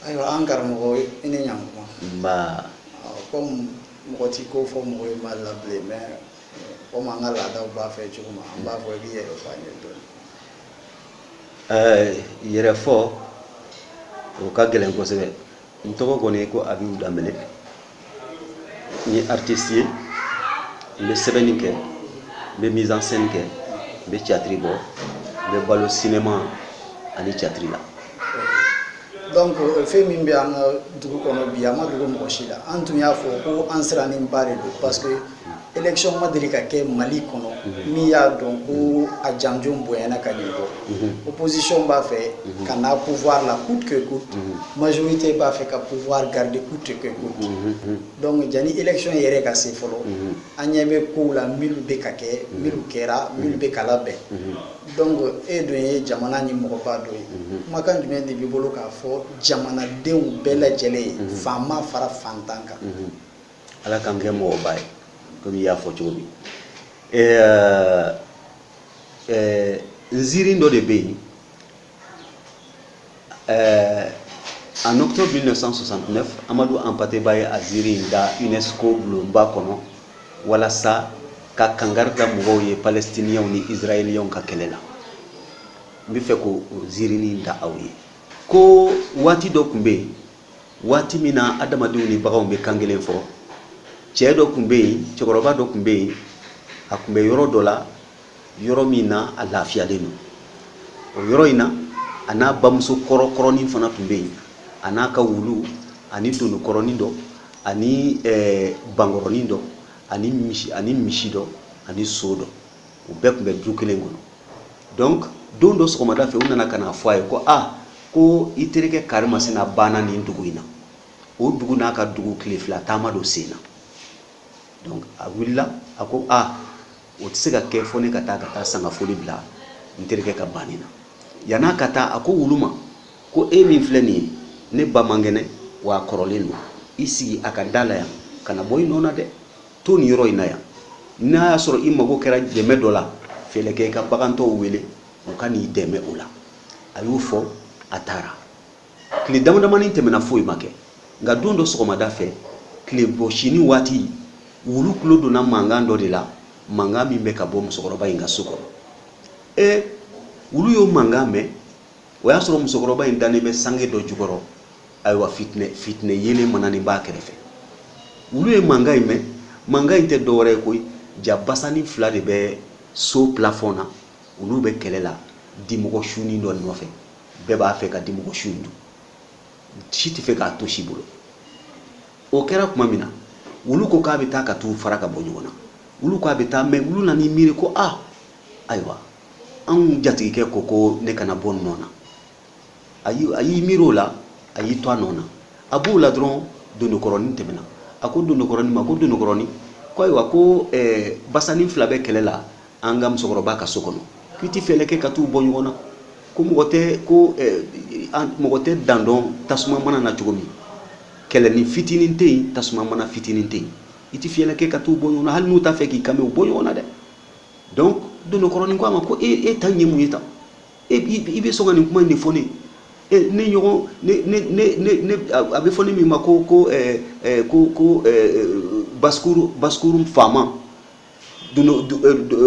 ayiwa an karamɔgɔ i ni ɲankuma nba komi mɔgɔ t'i ko fɔ mɔgɔ ye mali la bilen mais komi an ka laadaw b'a fɛ cogo min an b'a fɔ i k'i yɛrɛ fɔ an ye dɔɔni yɛrɛ fɔ o ka gɛlɛn kosɛbɛ n tɔgɔ kɔni ko abibu danbele n ye artiste ye n bɛ sɛbɛnni kɛ n bɛ mise en scène kɛ n bɛ théâtre bɔ n bɛ balo cinéma ani théâtre la donc euh, fɛn min bɛ an ka dugu kɔnɔ bi a ma dogo mɔgɔ si la an tun y'a fɔ ko an sirannenba de don parce que élection ma deli ka kɛ mali kɔnɔ mhm. min y'a dɔn ko mhm. a janjon bonyana ka nin bɔ mhm. opposition b'a fɛ ka na pouvoir la coûte que coûte majorité b'a fɛ ka pouvoir garder coûte que coûte donc jani élection yɛrɛ ka se fɔlɔ an ɲɛ bɛ kow la minnu bɛ ka kɛ minnu kɛra minnu bɛ ka labɛn donc e dun ye jamana in mɔgɔba dɔ ye kumakan jumɛn de b'i bolo k'a fɔ jamanadenw bɛɛ lajɛlen ye faama fara fantan kan ala k'an kɛ mɔgɔba ye komi i y'a fɔ cogo min nziirin dɔ de bɛ yen en octobre 1969 amadu anpate ba ye a ziiri in da unesco bulonba kɔnɔ walasa ka kangari da mɔgɔw ye palestiniyɛnw ni israɛliyɛnw ka kɛlɛ la n bɛ fɛ k'o ziirinin da aw ye ko waati dɔ tun bɛ yen waati min na adamadenw ni baganw bɛ kan kelen fɔ cɛ dɔ tun bɛ yen cɛkɔrɔba dɔ tun bɛ yen a tun bɛ yɔrɔ dɔ la yɔrɔ min na a lafiyalen don o yɔrɔ in na a n'a bamuso kɔrɔkɔrɔnin fana tun bɛ yen a n'a ka wulu ani dononkɔrɔnin dɔ ani eh, bankɔrɔnin dɔ ani misi dɔ ani so dɔ u bɛɛ tun bɛ du kelen kɔnɔ donc don dɔ sɔgɔmada fɛ u nana ka n'a fɔ a ye ko a ko i terikɛ karimasina banna nin dugu in na o dugu n'a ka dugu tile fila taama don sen na donc a wulila a ko a o tɛ se ka kɛ fo ne ka taa ka taa sangafoli bila n terikɛ ka banni na yann'a ka taa a ko wulu ma ko e min filɛ nin ye ne ba man kɛnɛ wa a kɔrɔlen don i sigi a ka da la yan kana bɔ i nɔ na dɛ to nin yɔrɔ in na yan n'a y'a sɔrɔ i mago kɛra dɛmɛ dɔ la fɛɛrɛ kɛ i ka bagan tɔw wele u ka n'i dɛmɛ o la a y'o fɔ a taara tile damadamanin tɛmɛna foyi ma kɛ nka don dɔ sɔgɔmada fɛ tile bɔsini waati wulu tulo donna mankan dɔ de la mankan min bɛ ka bɔ musokɔrɔba in ka so kɔnɔ ee wulu y'o mankan mɛn o y'a sɔrɔ musokɔrɔba in dannen bɛ sange dɔ jukɔrɔ ayiwa fitinɛ fitinɛ yeelen mananen b'a kɛrɛfɛ wulu ye mankan in mɛn mankan in tɛ dɔwɛrɛ ye koyi jaa basanin fila de bɛ so plafɔn na olu bɛ kɛlɛ la dimɔgɔ sunin dɔ nɔfɛ bɛɛ b'a fɛ ka dimɔgɔ su in dun si tɛ fɛ k'a to si bolo o kɛra tuma min na wulu ko k'a bɛ taa ka t'u fara ka bɔ ɲɔgɔn na wulu ko a bɛ taa mɛ wulu nan'i miiri ko a ayiwa an jatigikɛ ko ko ne kana bɔ n nɔ na a y'i miiri o la a y'i to a nɔ na a b'o la dɔrɔn dondokɔrɔnin tɛmɛna a ko dondokɔrɔnin ma ko dondokɔrɔnin ko ayiwa ko eh, basanin fila bɛ kɛlɛ la an ka musokɔrɔba ka so kɔnɔ k'i ti fɛɛlɛ kɛ ka t'u bɔ ɲɔgɔn na ko mɔgɔ tɛ ko eh, mɔgɔ tɛ dan dɔn tasuma mana na cogo min kɛlɛnin fitinin tɛ yen tasuma mana fitinin tɛ yen i ti fiyɛlɛ kɛ ka t'u bɔ ɲɔgɔn na hali n'u t'a fɛ k'i kan bɛ u bɔ ɲɔgɔn na dɛ donc dondokɔrɔnin ko a ma ko e e ta ye mun ye tan e i bɛ sɔn ka nin kuma in de fɔ ne ye ne ɲɔgɔn ne ne ne ne a bɛ fɔ ne min ma ko ko ɛɛ ɛɛ ko ko ɛɛ basse-cour basse-cour faama dondo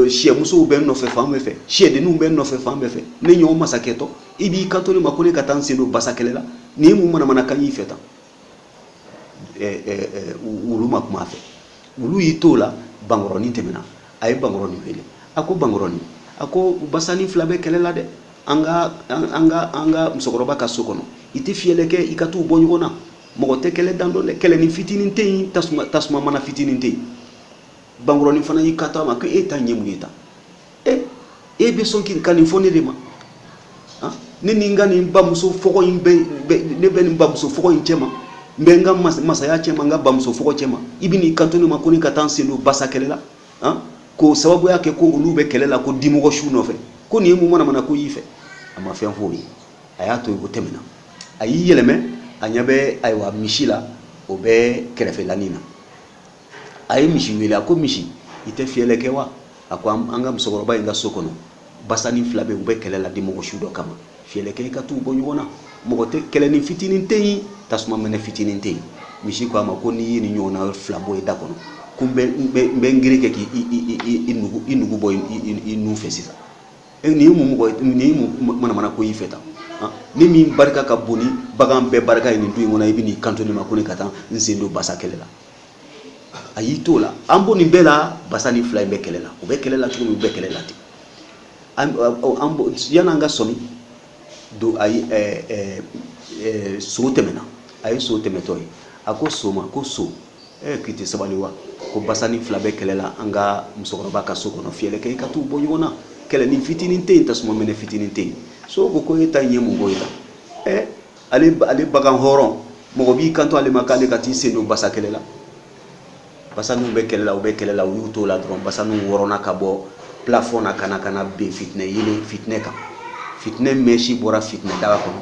siyɛmusow bɛ n nɔfɛ fan bɛɛ fɛ siyɛdenninw bɛ n nɔfɛ fan bɛɛ fɛ ne ɲɔgɔn masakɛtɔ i b'i kanto ne ma ko ne ka taa n sen don basa kɛlɛ la nin ye mun manamanakan y'i fɛ tan wulu ma kuma a fɛ wulu y'i t'o la bankɔrɔnin tɛmɛna a ye bankɔrɔnin wele a ko bankɔrɔnin a ko basanin fila bɛ kɛlɛ la dɛ an ka an ka an ka musokɔrɔba ka so kɔnɔ i tɛ fiyɛlɛ kɛ i ka t'u bɔ ɲɔgɔn na mɔgɔ tɛ kɛlɛ dan dɔn dɛ kɛlɛnin fitinin tɛ yen tasuma tasuma mana fitinin tɛ yen bankɔrɔnin fana y'i kanto a ma ko e ta ye mun ye tan e e bɛ sɔn k'i ka nin fɔ ne de ma ah, ne ni n ka nin bamuso fɔgɔ in bɛ ne bɛ nin bamuso fɔgɔ in cɛ ma n bɛ n ka masaya cɛ ma n ka bamuso fɔgɔ cɛ ma i bɛ n'i kanto ne ma ko ne ka taa n sen don basa kɛlɛ la ah, k'o sababuya kɛ ko olu bɛ kɛlɛ la ko dimɔgɔ su nɔfɛ ko nin ye mun manamanako y'i fɛ a ma fɛn f'o ye a y'a to yen o tɛmɛna a y'i yɛlɛmɛ a ɲɛ bɛ ayiwa misi la o bɛ kɛrɛfɛlanin na a ye misi wele a ko misi i tɛ fiyɛlɛ kɛ wa a ko an ka musokɔrɔba in ka so kɔnɔ basanin fila bɛ u bɛ kɛlɛ la dimɔgɔ su dɔ kama fiyɛlɛ kɛ i ka t'u bɔ ɲɔgɔn na mɔgɔ tɛ kɛlɛnin fitinin tɛ yen tasuma mɛnɛ fitinin tɛ yen misi ko a ma ko n'i ye nin ɲɔgɔnna wɛrɛ fila bɔ i da kɔnɔ ko n bɛ n gere kɛ k'i nugu bɔ i nu fɛ sisan nin ye mun mɔgɔ nin ye mun manamanako y'i fɛ tan ne min barika ka bon ni bagan bɛɛ barika ye nin du in kɔnɔ i bɛ n'i kanto ne ma ko ne ka taa n sen don basa kɛlɛ la a y'i t'o la an b'o nin bɛɛ la basani fila in bɛ kɛlɛ la u bɛ kɛlɛ la cogo min u bɛ kɛlɛ la ten an b'o yan'an ka sɔmi do a ye ɛɛ ɛɛ ɛɛ so tɛmɛna a ye so tɛmɛtɔ ye a ko so ma ko so e k'i tɛ sabali wa ko basani fila bɛ kɛlɛ la an ka musokɔrɔba ka so kɔnɔ fɛɛrɛ kɛ i ka t'u bɔ ɲɔgɔn na kɛlɛni fitinin tɛ yen tasuma mɛnɛ fitinin tɛ yen so ko ko e ta in ye mun ko ye tan ɛɛ ale ale bagan hɔrɔn mɔgɔ b'i kanto ale ma k'ale ka t'i sen don basa kɛlɛ la basaniw bɛ kɛlɛ la u bɛ kɛlɛ la u y'u t'o la dɔrɔn basaniw wɔrɔnna ka bɔ plafɔn na ka na ka na bin fitinɛ yeelen fitinɛ kan fitinɛ mɛsi bɔra fitinɛ daga kɔnɔ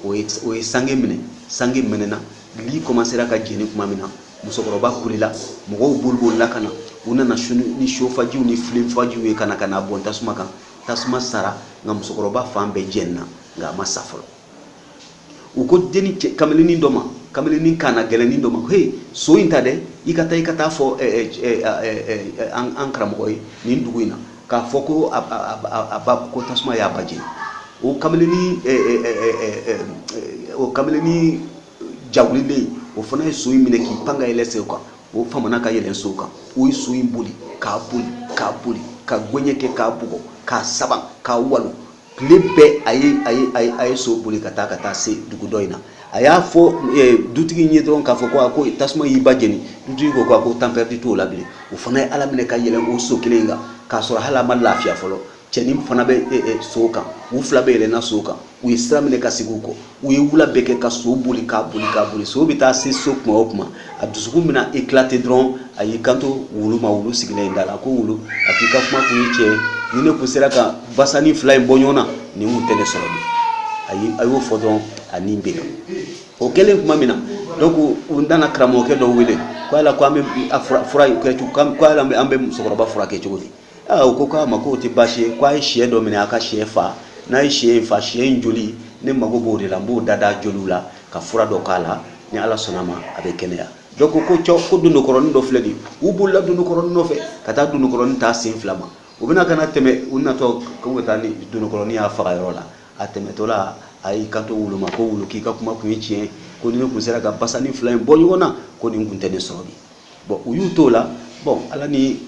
o ye o ye sange minɛ sange mɛnɛna li kɔmansera ka jeni tuma min na musokɔrɔba kulela mɔgɔw bolibolila ka na u nana ni sofajiw ni filenfajiw ye ka na ka na bɔn tasuma kan tasuma sara nka musokɔrɔba fan bɛɛ jenina nka a ma sa fɔlɔ u ko deni cɛ kamalennin dɔ ma kamalennin kanagɛlɛnnin dɔ ma he so in ta dɛ i ka taa i ka taa fɔ eh, eh, eh, an karamɔgɔ ye nin dugu in na k'a fɔ ko a ba ko tasuma y'a ba jeni o kamalennin o kamalennin jawulilen o fana ye so in minɛ k'i pan ka yɛlɛ so in kan o famana ka yɛlɛn so kan o ye so in boli k'a boli k'a boli ka gɛɲɛ kɛ k'a bugɔ k'a saba k'a walo tile bɛɛ a ye a ye a ye a ye so boli ka taa ka taa se dugu dɔ in na a y'a fɔ eh, dutigi in ye dɔrɔn k'a fɔ ko a ko tasuma y'i ba jeni dutigi ko ko a ko temps perdu t'o la bilen o fana ye ala minɛ ka yɛlɛn o so kelen in kan k'a sɔrɔ hali a ma lafiya fɔlɔ cɛnin fana bɛ eh, eh, so kan u fila bɛɛ yɛlɛnna so kan u ye sira minɛ ka segin u kɔ u ye wula bɛɛ kɛ ka so boli k'a boli k'a boli so bɛ taa se so kuma o kuma a dusukun bɛna éclater dɔrɔn a y'i kanto wulu ma wulu sigilen in da la ko wulu a k'i ka kuma kun ye tiɲɛ ye ni ne kun sera ka basani fila in bɔ ɲɔgɔn na nin kun tɛ ne sɔrɔ bi a ye a y'o fɔ dɔrɔn a ni bɛ o kɛlen tuma min na donc u nana karamɔgɔkɛ dɔ wele ko yala ko an bɛ a fura fura in kɛ cogo ko yala an bɛ musokɔrɔba furakɛ cogo di aa u ko k'a ma k'o tɛ baasi ye k'a ye sɛ dɔ minɛ a ka sɛ fa n'a ye sɛ in fa sɛ in joli ne mago b'o de la n b'o da da joliw la ka fura dɔ k'a la ni ala sɔnna ma a bɛ kɛnɛya dɔ ko ko cɔ ko dondokɔrɔnin dɔ filɛ nin ye u bolila dondokɔrɔnin nɔfɛ ka taa dondokɔrɔnin ta sen fila ma u bɛna ka na tɛmɛ u natɔ k'u bɛ taa ni dondokɔrɔnin y'a faga yɔrɔ la a tɛmɛtɔ la a y'i kanto wulu ma ko wulu k'i ka kuma kun ye tiɲɛ ko ni ne kun sera ka basani fila in bɔ ɲɔgɔn na ko nin kun tɛ ne sɔrɔ bi bon u y'u t'o la bon ala ni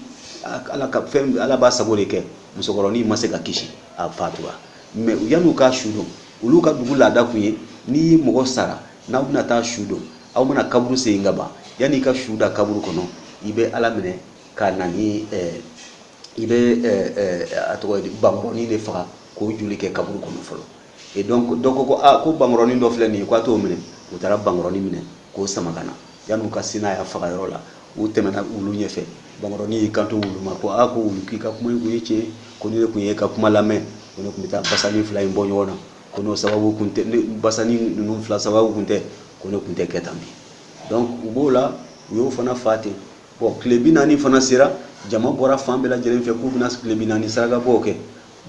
ala ka fɛn ala b'a sago de kɛ musokɔrɔnin ma se ka kisi a fatura mais yan'u ka su don olu ka dugu laada kun ye ni mɔgɔ sara n'aw bɛna taa su don aw mana kaburu sen ka ban yanni i ka su da kaburu kɔnɔ i bɛ ala minɛ ka na ni eh, i bɛ eh, eh, a tɔgɔ ye di bankɔrɔnin de faga k'o joli kɛ kaburu kɔnɔ fɔlɔ et donc dɔ ko ko a ah, ko bankɔrɔnin dɔ filɛ nin ye k'a t'o minɛ u taara bankɔrɔnin minɛ k'o sama ka na yan'u ka se n'a y'a faga yɔrɔ la u tɛmɛna wulu ɲɛfɛ bankɔrɔnin y'i kanto wulu ma ko a ah, ko wulu k'i ka kuma in kun ye tiɲɛ ko ni ne kun y'i ka kuma lamɛn ko ne kun bɛ taa basani fila in bɔ ɲɔgɔn na ko n'o sababu kun tɛ basani ninnu fila sababu kun tɛ ko ne kun tɛ kɛ tan bi donc u b'o la u y'o fana fa ten bɔn tile bi naani fana sera jama bɔra fan bɛɛ lajɛlen fɛ k'u bɛna tile bi naani sarakabɔw kɛ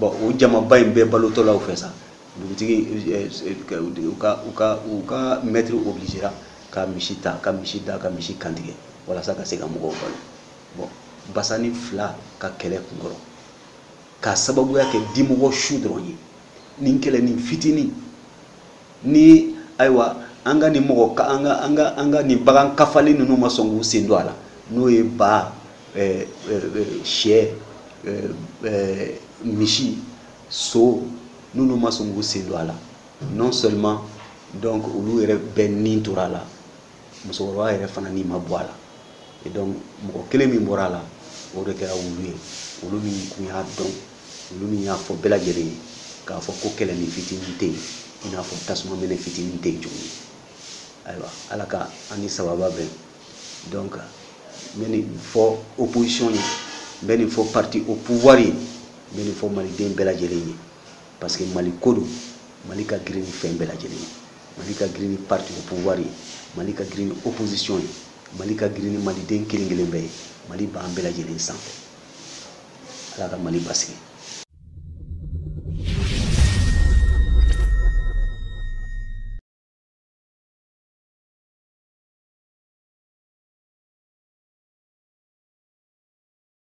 bɔn o jamaba in bɛɛ balotɔlaw fɛ sa dugutigi eh, eh, u ka u ka u ka mɛtiri obligera ka misi ta ka misi da ka misi kantigɛ walasa ka se ka mɔgɔw balo bɔn basani fila ka kɛlɛ kunkɔrɔ k'a sababuya kɛ dimɔgɔ su dɔrɔn ye nin kɛlɛnin fitinin ni ayiwa an ka nin mɔgɔ ka an ka an ka an ka nin bagan kofɔlen ninnu ma sɔn k'u sen don a la n'o ye ba eh, eh, sɛ eh, misi so n'olu ma sɔn k'u sen don a la non seulement donc olu yɛrɛ bɛɛ ni tora a la musokɔrɔba yɛrɛ fana ni ma bɔ a la et donc mɔgɔ kelen min bɔra a la o de kɛra wulu ye wulu min kun y'a dɔn wulu min y'a fɔ bɛɛ lajɛlen ye k'a fɔ ko kɛlɛnin fitinin tɛ yen i n'a fɔ tasuma mɛnɛ fitinin tɛ yen cogo min ayiwa ala ka an ni sababu bɛn donc n bɛ nin fɔ opposition ye n bɛ nin fɔ parti au pouvoir ye n bɛ nin fɔ maliden bɛɛ lajɛlen ye parce que mali ko don mali ka girin ni fɛn bɛɛ lajɛlen ye mali ka girin ni parti au pouvoir ye mali ka girin ni opposition ye mali ka girin ni maliden kelen kelen bɛɛ ye mali b'an bɛɛ lajɛlen sanfɛ ala ka mali basigi